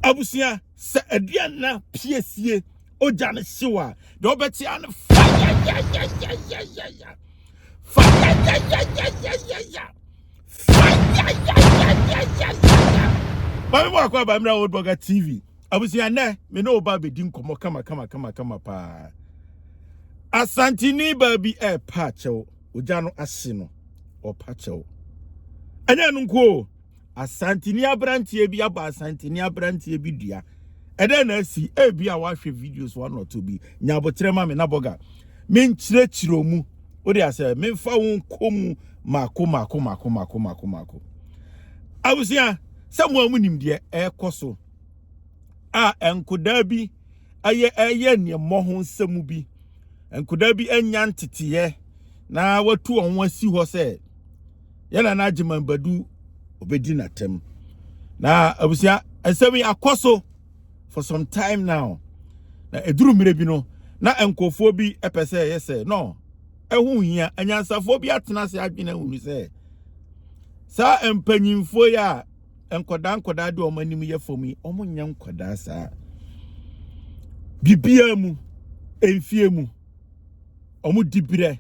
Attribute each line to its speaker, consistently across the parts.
Speaker 1: Abusua, sɛ aduane no apue sie, ogya no hyew a, deɛ ɔbɛte a no fayayayayayaya, fayayayayayaya, fayayayayayaya. Maame mu akɔ aba mmerɛ Old Burger TV. Abusua nɛ, me ne oba bɛdi nkɔmmɔ kama kama kama kama paa. Asantini baa bi ɛrepa akyɛw, ogya no ahye no, ɔpa kyɛw. Ɛnyɛ ɛno nko o. Asanteni aberanteɛ bi abɔ Asanteni aberanteɛ bi dua. Ɛdɛn na asi? Ebia wahwɛ videos one or two bi. Nya aboterɛ ma me na bɔga. Menkyerɛkyerɛ ɔmu. Wode asɛ memfa wo nkɔ mu mako mako mako mako mako mako. Abusua, sɛ mo a monim deɛ ɛrekɔ so a nkodaa bi ɛyɛ ɛyɛ neɛ mmɔ ho nsɛm bi. Nkodaa bi anya nteteɛ na watu wɔn asi hɔ sɛ yɛn nana agyeman badu obedi n'atam na abusua nsɛm yi akɔ so for some time now na eduru mmere bi no na nkurɔfoɔ bi pɛ sɛ ɛyɛ sɛ no ɛho hia anyansafoɔ bi atena ase adwene ahunu sɛ saa mpanyinfoɔ yi a nkwadaa nkwadaa de wɔn anim yɛ fam yi wɔn nyɛ nkwadaa saa biribiara mu mfie mu wɔn dibrɛ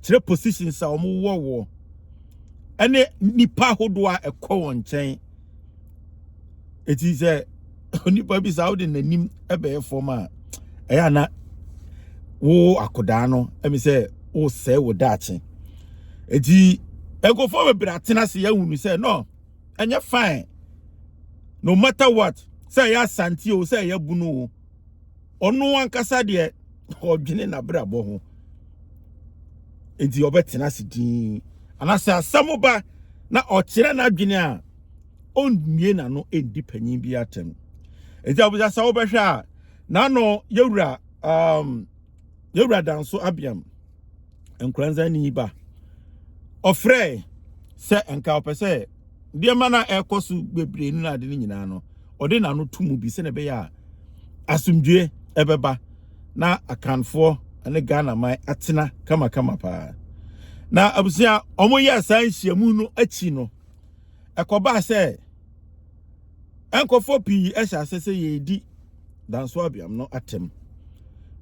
Speaker 1: kyerɛ positions a wɔn wɔ wɔ ɛne nipa ahodoɔ a ɛkɔ wɔn nkyɛn eti sɛ onipa bi saa ɔde n'anim ɛbɛyɛ fam a ɛyɛ ana wo akodaa no ɛmi sɛ wosɛe wo daakye eti nkurɔfoɔ bebree atena ase yɛahunu sɛ no ɛnyɛ fine no matter what sɛ ɛyɛ asante o sɛ ɛyɛ bunu o. ɔno ankasa deɛ ɔdwene n'abrabɔ ho enti ɔbɛtena ase din anaasɛ asɛm ba na ɔkyerɛ n'adwene a ɔnnue n'ano ɛndi panyin bi atɛm enti abusasa wobɛhwɛ a n'ano yɛwura um, Yɛwura Danso Abiam Nkoranzani ba. Ɔfrɛe sɛ nka ɔpɛ sɛ nneɛma no a ɛrekɔ so bebree no na ade no nyinaa no, ɔde n'ano to mu bi sɛnea ɛbɛyɛ a asomdwoe ɛbɛba na Akanfoɔ ne Ghana man atena kamakama paa. Na abusua a wɔyɛɛ saa nhyiamu no akyi no, ɛkɔbaa sɛ nkurɔfoɔ pii hyɛ ase sɛ yɛredi danso abiam no atɛm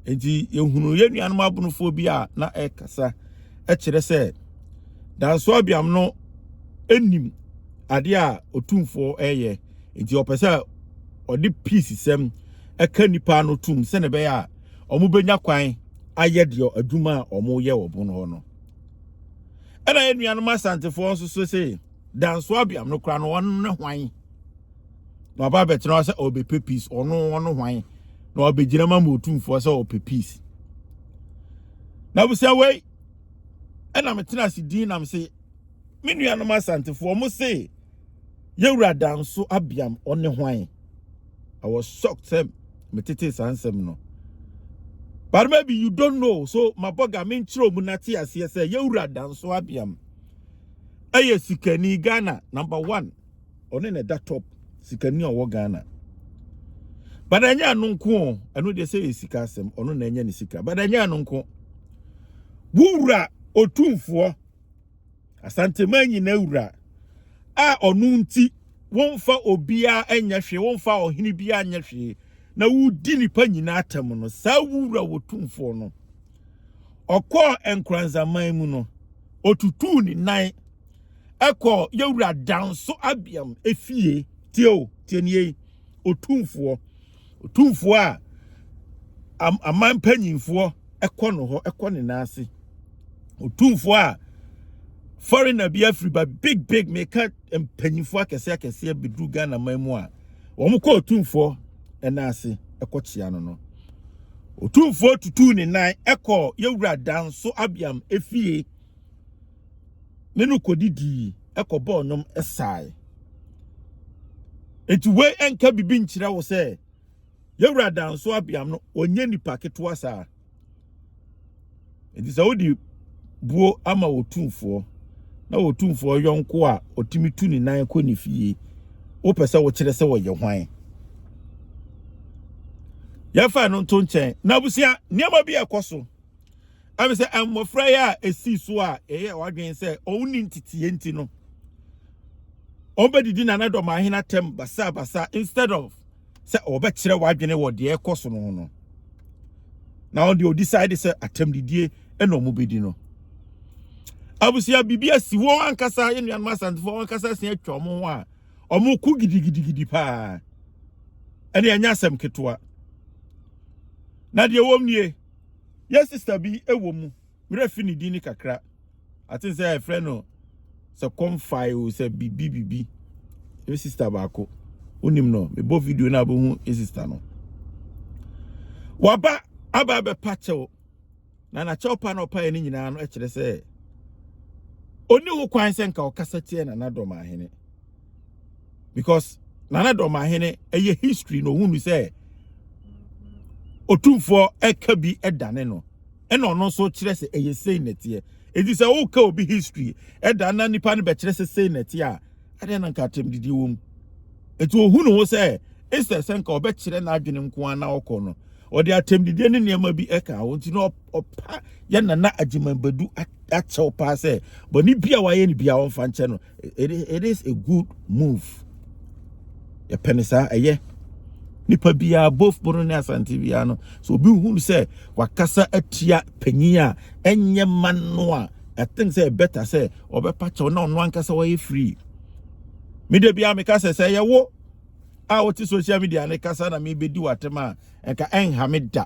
Speaker 1: nti yɛhunu yɛn nuanom abonofoɔ bi a na ɛkasa kyerɛ sɛ danso abiam no nim adeɛ a ɔtumfoɔ ɛyɛ nti ɔpɛ sɛ ɔde peace sɛm ɛka nipa no tum sɛne ɛbɛyɛ a wɔbɛnya kwan ayɛ deɛ adwuma a wɔyɛ wɔ bono hɔ no ɛna yɛn nuanom asantefoɔ nso so se danso abiam no kora no wɔn ne hwan na waba abɛtena hɔ sɛ ɔrebɛpɛ peace ɔno ɔno hwan na wabɛgyina ma ma ɔtumfoɔ sɛ ɔpɛ peace na abusua wei ɛna metena ase din nam se me nuanom asantefoɔ ɔmo se yɛwura danso abiam ɔne hwan I was shocked sɛ metete saa nsɛm no but maybe you don't know so mabɔga menkyerɛ mu nate aseɛ sɛ yɛwura danso abiam ɛyɛ sikani Ghana number one ɔne na ɛda top sikani a ɔwɔ ghana but ɛnyɛ ano nko o ɛno deɛ sɛ yɛ sika asɛm ɔno na ɛnyɛ ne sika but ɛnyɛ ano nko wowura otumfoɔ asantema nyina wura a ɔno nti wɔmfa obiara ɛnyɛ hwee wɔmfa ɔhene biara nyɛ hwee na wodi nipa nyina atɛm no saa wowura otumfoɔ no ɔkɔɔ nkranzaman mu no otutuu ne nan ɛkɔ yɛwura danso abiam efie tie o tie nie yi otumfoɔ otumfoɔ a am- aman mpanyinfoɔ ɛkɔ no hɔ ɛkɔ ne nan ase otumfoɔ a foreigner bi afiri ba big big meka mpanyinfoɔ akɛseɛ akɛseɛ bɛduru ghana man mu a wɔn kɔ otumfoɔ ɛnan ase ɛkɔ kyea no no otumfoɔ tutuu ne nan ɛkɔ yɛwura danso abiam efie ne no kɔdidii, kɔbɔɔ nnwom sae. Enti wei ɛnka biribi nkyerɛ wo sɛ yɛwura danso abiam no ɔnyɛ nipa ketewa saa. Enti sɛ wode buo ama wɔtumfoɔ na wɔtumfoɔ yɔnko a ɔtumi tu ne nan kɔ ne fie wopɛ sɛ wokyerɛ sɛ wɔyɛ hwan yɛfa no nto nkyɛn na abusua nneɛma bi ɛkɔ so Ɛfiri sɛ mmɔfra yi a ɛsii so a ɛyɛ wadwene sɛ ɔnni nteteɛ nti no, ɔbɛdidi nanadɔm ahene atɛm basabasa instead of sɛ ɔbɛkyerɛ wadwene wɔ deɛ ɛkɔ so no ho no. Na ɔde ɔdecide sɛ atɛmdidie ɛna ɔmo bɛdi no. Abusua biribi asi wɔn ankasa yɛ nuanom asantefoɔ wɔn ankasa asia atwa ɔmo ho a ɔmo ko gidigidigidi paa. Ɛne ɛnyɛ asɛm ketewa. Na deɛ wɔm nie. Yɛ sister bi wɔ mu. Merɛ fi ne din ne kakra. I think sɛ ɛfrɛ no sɛ kɔmfae o sɛ bibi bibi. Yɛ sister baako. Wonim no. Mebɔ video na abɛhu yɛ sister no. Waba aba bɛpa kyɛw. Na na kyɛw pa na ɔpae ne nyinaa no kyerɛ sɛ oni ho kwan sɛ nka ɔkasa tia na nadɔm ahene. because nana dɔmahene ɛyɛ history na ohunu sɛ otumfoɔ ɛka bi ɛdane no ɛna ɔno nso kyerɛ sɛ ɛyɛ sei na ɛteɛ eti sɛ woka obi history ɛda na nipa no bɛkyerɛ sɛ sei na ɛteɛ a ɛdeɛ na nka atɛm didi wɔ mu eti ohunu ho sɛ instead sɛ nka ɔbɛkyerɛ n'adwene nko ara na ɔkɔ no ɔde atɛm didi ne nneɛma bi ɛka ho nti na ɔpa yɛ nana agyeman badu akyɛw paa sɛ bɔne bi a wayɛ no bi a ɔmfa nkyɛ no it is, it is a good move yɛpɛ ne saa ɛyɛ nipa biara both bono ne asante biara no so obi hu sɛ wakasa atia panyin a ɛnyɛ ma no a i think sɛ better sɛ ɔbɛpa kyɛw na ɔno ankasa wɔyɛ free me da biara meka sɛ sɛ yɛwo a wote social media ne kasa na mebɛdi w'atɛm a anka ɛnha me da.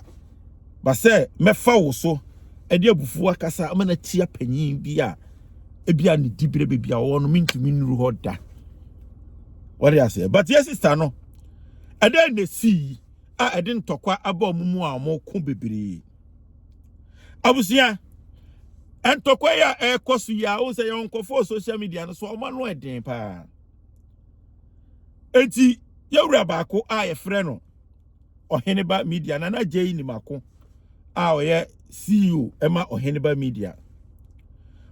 Speaker 1: Ba sɛ mɛfa wo so de abufuo akasa ama no atia panyin bi a ebi a ne diberɛ baabi a ɔwɔ no mentumi nnuru hɔ da wɔde aseɛ but yɛ sista no ɛdɛn na ɛsii a ɛde ntɔkwa aba ɔmo mu a ɔmo ko bebree abusua ntɔkwa yi a ɛrekɔ so yi a wo sɛ yɛn nkɔfoɔ social media no so ɔmo ano ɛden paa eti yɛwura baako a yɛfrɛ no ɔhene ba media na na jay ni mako a ɔyɛ ceo ɛma ɔhene ba media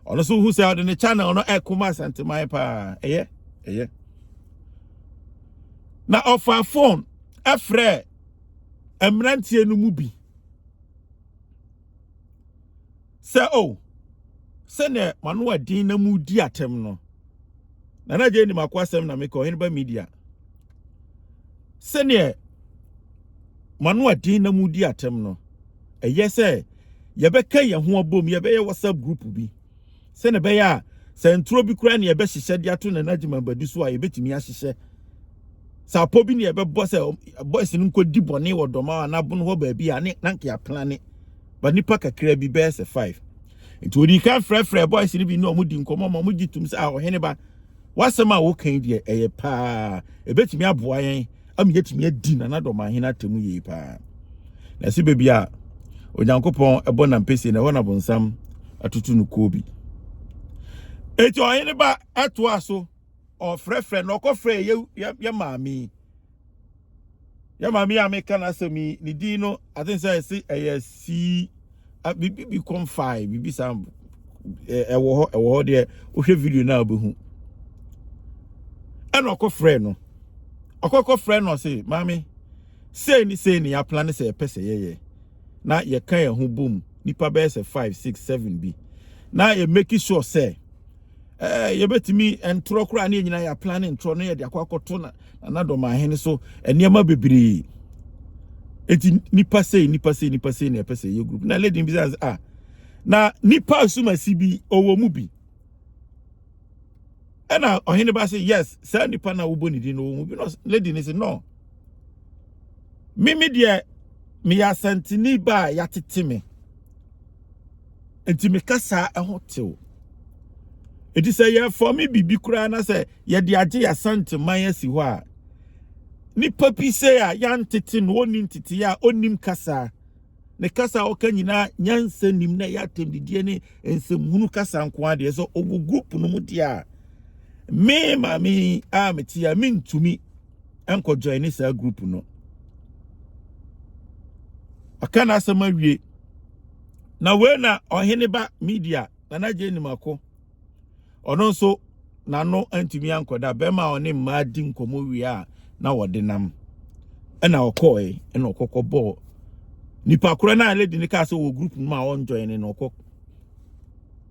Speaker 1: ɔno so hu sɛ ɔde ne channel no ɛko ma asanteman paa ɛyɛ ɛyɛ na ɔfa phone ɛfrɛ mmeranteɛ no mu bi sɛ o oh, sɛnea mano a din na mu di atɛm no na na gye nim akɔ asɛm na mekɔ hene ba media sɛnea mano a din na mu di atɛm no ɛyɛ sɛ yɛbɛka yɛn ho abom yɛbɛyɛ whatsapp group bi Sɛnea ɛbɛyɛ a sɛ nturo bi koraa na yɛbɛhyehyɛ de ato Nana Gyimah Badu so a, yɛbɛtumi ahyehyɛ. Sɛ apɔ bi na yɛbɛbɔ sɛ boys no nkɔdi bɔne wɔ Dɔmaw anaa Abono hɔ baabi a, ne na nka yɛaplane. Ba nnipa kakra bi bɛyɛ sɛ five. Nti ɔdii kan frɛfrɛ boys no bi ne ɔmo di nkɔmmɔ ma ɔmo gye tom sɛ a ɔhene ba, w'asɛm a woka yi deɛ ɛyɛ paa, ɛbɛtumi aboa yɛn. ama yɛatumi adi nana dɔmahene atemu yie paa na ɛsɛ baabi a onyankopɔn ɛbɔ nampɛsie na ɛhɔ na bonsam atutu no kuo bi enti ɔhene ba ɛtoa so ɔfrɛfrɛ na ɔkɔfrɛ yɛ yɛ yɛ maame yɛ maame a meka n'asɛm yi ne din no aten sɛ ɛse ɛyɛ sii Ah, biribi bi kɔm fae biribi saa ɛwɔ hɔ ɛwɔ hɔ deɛ wohwɛ video no a wobɛhu ɛna ɔkɔ frɛ no ɔkɔkɔ frɛ no ɔse maame sei ne sei ne yɛapla ne sɛ yɛpɛ sɛ yɛyɛ na yɛka yɛn ho bom nipa bɛyɛ sɛ 5 6 7 bi na yɛmaki sure sɛ ɛɛ yɛbɛtumi ntorɔ koraa ne nyinaa yɛ plan ne ntorɔ no yɛde akɔ akɔto na nanadɔm ahene so nneɛma bebree eti nipa sei nipa sei nipa sei na ɛpɛ sɛ yɛ group na lady bi sɛ ah na nipa asumasi bi ɔwɔ mu bi ɛna ɔhene ba sɛ yes saa nipa na wobɔ ne din no ɔwɔ mu bi na lady ne sɛ no mimi deɛ meyɛ asantini ba a yɛatete me Nti me kasa ɛho tew. Eti sɛ yɛfɔme biribi koraa na sɛ yɛde agye yɛasante man asi hɔ a nipa bi sɛ a yɛantete no ɔni ntete a ɔnim kasa ne kasa a ɔka nyinaa nyansa nim na ɛyɛ atɛmdidie ne nsɛmhunu kasa nko adeɛ sɛ ɔwɔ group no mu deɛ a me maame a mete a mentumi ɛnkɔ join ne saa group no ɔka n'asɛm awie na wei na ɔhene ba media nana gye nim ako ɔno nso n'ano antumi ankɔda bɛrima a ɔne mmaa di nkɔmɔ wie a na wɔde nam ɛna ɔkɔɔe ɛna ɔkɔkɔ bɔɔ nipa korɔ no a lady no kaa sɛ wɔ group no mu a ɔnjoin no ɔkɔ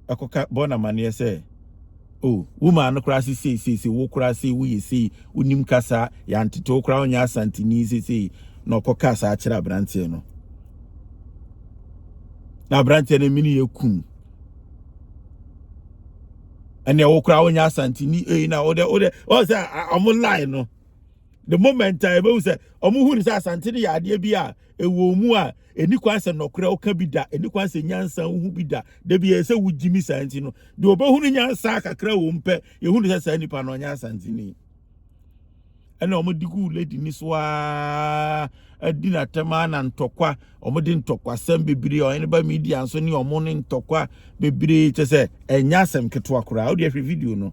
Speaker 1: ɛkɔka bɔ no amaneɛ sɛ oh wo maa no koraa se sei sei sei wo koraa sei woyɛ sei wonim kasa yɛantete wo koraa wonyɛ asanteni sei sei na ɔkɔka saa kyerɛ aberanteɛ no na aberanteɛ no mene yɛ kum ɛne ɛwo koraa wonyɛ asanteni ei na wode wode wɔn sɛ ɔmo lie no the moment a ɛbɛhu sɛ ɔmo hu ne sɛ asante no yɛ adeɛ bi a ɛwɔ mu a Ɛnni kwan sɛ nɔkorɛ woka bi da, ɛnni kwan sɛ nyansa wohu bi da, da biara ɛsɛ sɛ wogyimi saa nti no, deɛ ɔbɛhunu nyansa kakra wɔ mu pɛ, yɛhunu sɛ saa nipa no ɔnyɛ Asanteni. Ɛna wɔn de gu lady ni so aa adi n'atɛm aa na ntɔkwa wɔn de ntɔkwasɛm bebree ɔyɛ ne ba media nso ne wɔn ne ntɔkwa bebree kyɛ sɛ ɛnyɛ asɛm ketewa koraa wode ahwɛ video no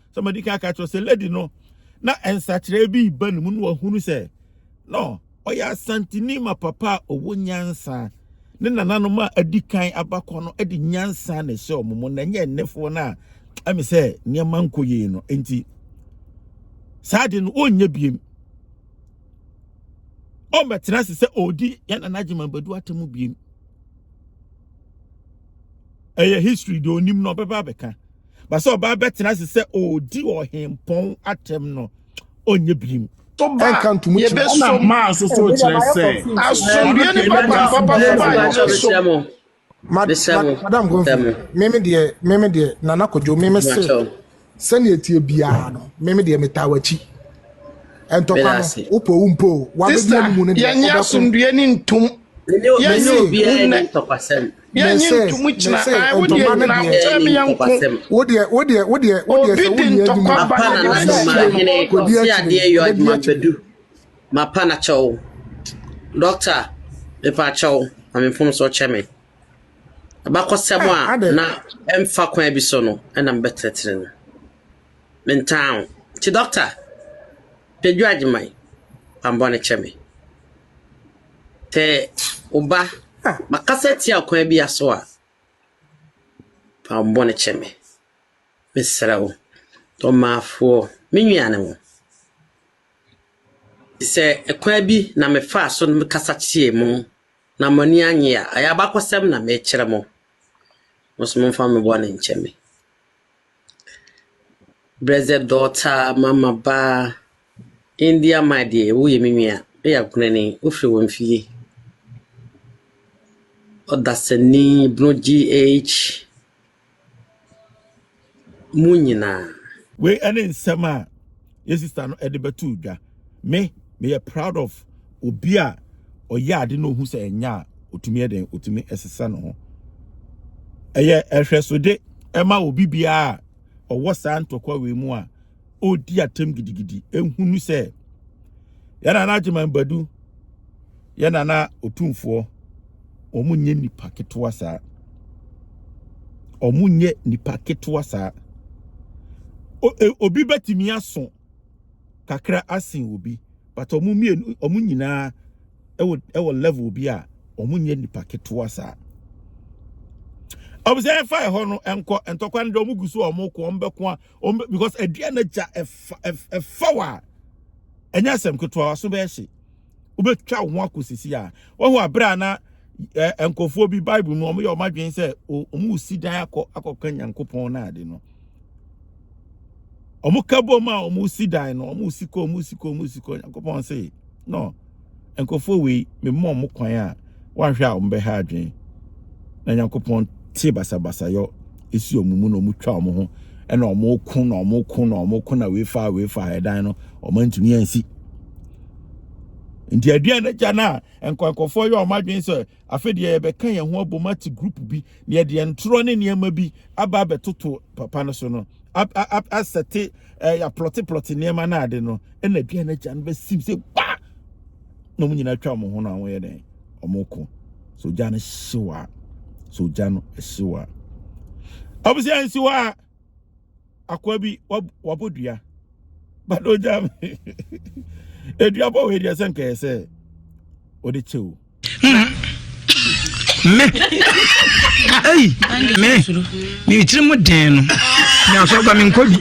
Speaker 1: sɛ madi kan aka kyerɛ sɛ lady no na nsakyerɛ bi ba ne mu no wahunu sɛ no ɔyɛ asantini ma papa a ɔwɔ nyansa ne nananom a adi kan abakɔ no de nyansa na ɛhyɛ wɔn mu na ɛnyɛ nnefoɔ no a ɛmi sɛ nneɛma nkɔ yie no nti saa de no ɔnyɛ biem ɔmmɛtena ase sɛ ɔredi yɛn nana gyima badu atamu biem ɛyɛ history deɛ onim na ɔbɛba abɛka ba sɛ ɔbaa bɛtena ase sɛ ɔredi ɔhempɔn atɛm no ɔnyɛ birim ɛnka ntomu
Speaker 2: kyerɛ ɛna maa nso so kyerɛ
Speaker 3: sɛ asomdue ne
Speaker 2: papa papa so ba ɛnyɛ so
Speaker 4: madam gomfi meme deɛ meme deɛ nana kodwo meme se sɛnea ɛtie biara no meme deɛ metaa w'akyi ɛntɔkwa no wopɔ wo mpo wabɛdi mu no deɛ yɛnyɛ asomdue ne
Speaker 2: ntom yɛnyɛ obiara ne ntɔkwasɛm Mese, mese, ntoma no deɛ, wodeɛ, wodeɛ,
Speaker 4: wodeɛ, wodeɛ, sɛ wonni adwuma, Mapa na na no ma hene
Speaker 5: kɔdi akyire, adeɛ yɔ adwuma bɛdu. Mapa na kyɛw. Dɔkta, mepa kyɛw, ma me mfom so kyɛ me. Abakɔsɛm a ah, na ɛmfa kwan bi so no, ɛna mbɛtɛtɛrɛ no. Mentaa ho. Nti dɔkta, dwadwu agyeman, bambɔ no kyɛ me. Sɛ wo ba makasa tia ɔkwan bi aso a, fa wo bɔne kyɛ me. Mesrɛ wo, ɔmaafoɔ, me nuanom, sɛ ɛkwan bi na mefaa so no mekasa tie mo na mo ani annye a, ɛyɛ abakɔsɛm na mekyerɛ mo. Mo nso momfa me bɔne nkyɛ me. Brɛdzɛ dɔɔtaa mama baa, Indi ama deɛ wo yɛ me nua, wo yɛ akunani, wo firi wɔ mfie. Ɔdasani bunu GH, mu nyinaa. Wei
Speaker 1: ne nsɛm a yɛ sister no ɛde bɛto dwa me me yɛ proud of obi a ɔyɛ ade na ohu sɛ ɛnyɛ a otumi yɛ den otumi ɛsesa ne ho ɛyɛ ɛhwɛsode ɛma obi biara a ɔwɔ saa ntɔkwa wei mu a ɔredi atam gidigidi ehunu sɛ yɛn anagye man badu Yɛn Nana Otumfoɔ, wɔn nyɛ nipa ketewa saa. Wɔn nyɛ nipa ketewa saa. E, obi bɛtumi aso kakra asen obi, but wɔn mmienu, wɔn nyinaa ɛwɔ ɛwɔ level bi a wɔn nyɛ nipa ketewa saa. Ɔbɛsɛ yɛn fa ɛhɔ no nkɔ ntɔkwa no de wɔn gu so a wɔn kɔ wɔn bɛko a wɔn bɛ because aduane gya ɛfa ɛfa wa ɛnyɛ asɛm ketewa so bɛyɛ hye. wobɛtwa wo ho akɔ sisi a wahu aberɛ a na nkurɔfoɔ bi bible mu wɔyɛ wɔn adwene sɛ wɔn resi dan akɔ akɔka nyankopɔn no ade no wɔn ka bom a wɔn resi dan no wɔn resi kɔ wɔn resi kɔ wɔn resi kɔ nyankopɔn se no nkurɔfoɔ wei memmɔ wɔn kwan a woanhwɛ a wɔn bɛha adwene na nyankopɔn te basabasayɔ esi wɔn mu na wɔn twa wɔn ho ɛna wɔn ko na wɔn ko na wɔn ko na wei fa wei fa ɛdan no wɔn ntumi ansi nti aduan no gya no a nkwankɔfoɔ yɛ wɔn adwene sɛ afei deɛ yɛbɛka yɛn ho abom ate group bi na yɛde ntorɔ ne nneɛma bi aba abɛtoto papa no so no asɛte ɛɛ aplɔteplɔte nneɛma no ade no ɛna aduane agya no bɛsim sɛ ba na wɔn nyinaa atwa wɔn ho na wɔn yɛ dɛn wɔn ko so gya no hyew a so gya no hyew a abusua nsi hɔ a akoa bi wabɔ dua bado gya edua bɔ wɔ edua sɛ nkae sɛ ɔde kyɛw.
Speaker 3: me ei me me tiri mu den no me asɔ gba me nkɔ bi.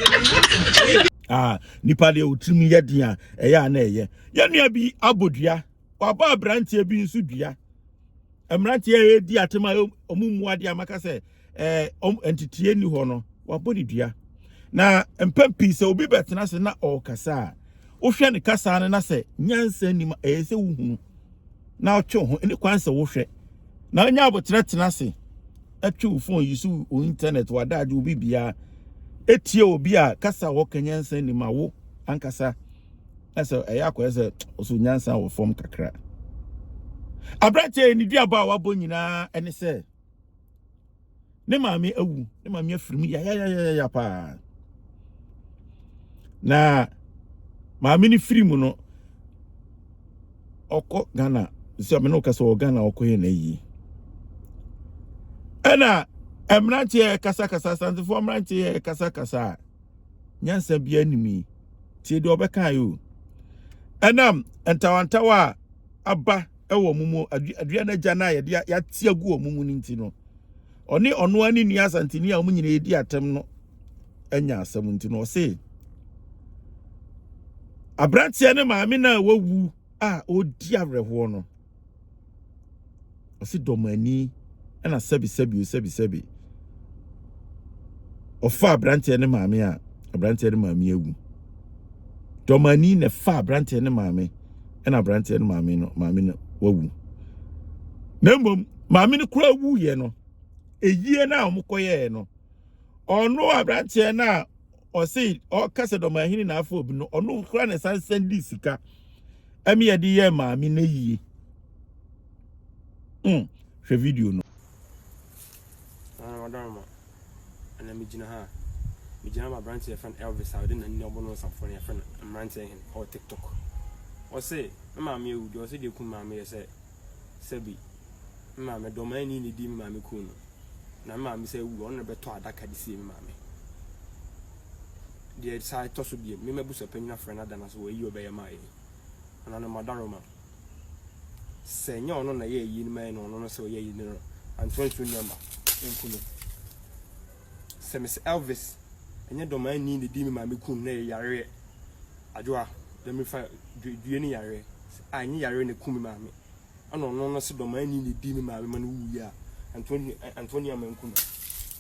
Speaker 3: Ah, nipa
Speaker 1: deɛ otiri mu yɛ den a ɛyɛ a na ɛyɛ yɛn nua bi abɔ dua wabɔ aberanteɛ bi nso dua mmeranteɛ yɛ di atema ɔmo mu adeɛ amaka sɛ. ɛɛ ɔm nteteɛ ni hɔ no wabɔ ne dua na mpɛn pii sɛ obi bɛtena ase na ɔrekasa a wohwɛ ne kasa no na sɛ nyansa nim a ɛyɛ sɛ wohunu na ɔtwe ho ne kwan sɛ wohwɛ na ɔnyɛ abotire tena ase ɛtwe wo fon yi so wo internet wadaagye obi biara etie obi a kasa a wɔka nyansa nim a wo ankasa na sɛ ɛyɛ akɔyɛ sɛ ɔso nyansa wɔ fam kakra aberanteɛ yi ne duaba a wabɔ nyinaa ɛne sɛ ne maame awu ne maame afiri mu yayayayaya paa na maame no firi mu no ɔkɔ ghana sɛ ɔmene wo kasa wɔ ghana ɔkɔyɛ no ayie ɛna mmeranteɛ kasakasa asantefoɔ mmeranteɛ kasakasa a nyansa biara nim yi tie deɛ ɔbɛkae o ɛnam ntawantawa a aba wɔ wɔn mu, aduane agya no a yɛde yɛate agu wɔn mu no nti no, ɔne ɔno ara ne nua asanteni a wɔn nyinaa redi atɛm no anya asɛm nti no, ɔse aberanteɛ ne maame no a wawu a ɔredi awerɛhoɔ no, Ɔse dɔ mo ani ɛna sɛbi sɛbi o sɛbi sɛbi. Ɔfa abranteɛ ne maame a abranteɛ ne maame awu. Dɔ mo ani na ɛfa abranteɛ ne maame ɛna abranteɛ ne maame no maame no wawu. Na mmom maame no kura wu yɛ no eyie na wɔn kɔyɛɛ no ɔno abranteɛ no a ɔse ɔkasa dɔ mo ahene na afɔ obi no ɔno kura na ɛsan sɛn di sika. ɛmi yɛ de yɛ maame na yie mm hwɛ video no. Ah, madam
Speaker 6: ma ɛna mi gyina ha mi gyina ma aberanteɛ fɛn Elvis a ɔde na nni ɔbɔ no nsafo no yɛ fɛn mmeranteɛ hɛn ɔwɔ tiktok ɔsɛ ne maame ewu deɛ ɔsɛ deɛ kun maame yɛ sɛ. sɛ bi me maame dɔ maa ni ne di me maame kun no na me maame sɛ wu ɔno na bɛtɔ adaka de sie me maame deɛ saa ɛtɔ so biem me mabusua panyin afrɛ no ada no so wɔ ayi ɔbɛyɛ maa yɛn ɔno no madaro ma sɛ nyɛ ɔno na yɛ ayi no maa yɛn ɔno no sɛ ɔyɛ ayi no antoa nsu nneɛma nku no sɛ Miss Elvis ɛnyɛ dɔmaa ni ne di me maame kun na yɛ yareɛ Adwoa na mefa due ne yareɛ a ɛnyɛ yareɛ na ɛkum me maame ɛna ɔno no se dɔmaani na ɛdi me maame ma no wuiɛ a Antoni, Antoni ama nku no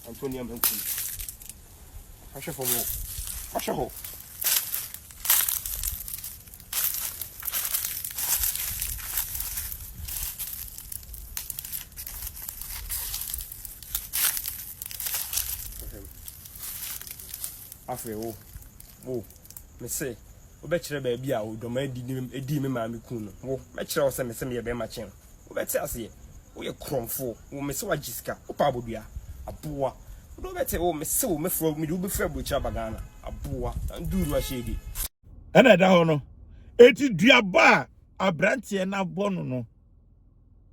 Speaker 6: Antoni ama nku no Ahwɛ fam hɔ Ahwɛ hɔ Afei wo wo Mese, Wobɛkyerɛ baabi a odwaman bi dii me maame kuu no? Wo, mɛkyerɛ wo sɛ mese meyɛ bɛrima kyɛn wo. Wobɛte aseɛ? Woyɛ korɔmfoɔ. Wo, mese woagye sika. Wopɛ abodua. Aboa. Wo deɛ wobɛte? Wo, mese wo mɛfrɛ wo, mede wo bɛfiri aburokyire aba Ghana. Aboa. Nduuru ahyɛdi. Ɛna ɛda
Speaker 1: hɔ no, enti duaba a aberanteɛ no abɔ no no.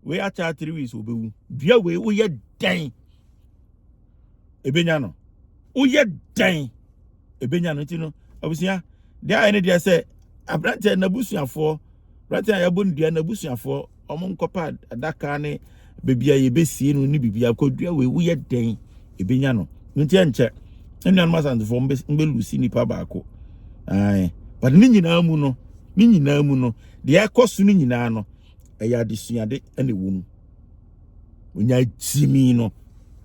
Speaker 1: Wei ataa three weeks obewu. Dua wei woyɛ dɛn? Ebenya no. Woyɛ dɛn? Ebenya no nti no abusua deɛ ayɛ ne deɛ sɛ aberanteɛ n'abusuafoɔ aberanteɛ a yɛabɔ no dua n'abusuafoɔ wɔn nkɔpa adaka ne baabi a yɛbɛsie no ne biribi akɔ dua wei woyɛ dɛn? Ebenya no. Nti ɛnkyɛ nnuanom asantefoɔ mbɛlusi nipa baako. Ae. But ne nyinaa mu no ne nyinaa mu no deɛ ɛkɔ so no nyinaa no ɛyɛ adesuade na ɛwɔ mu onyaa gyimii no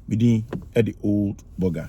Speaker 1: me din de old burger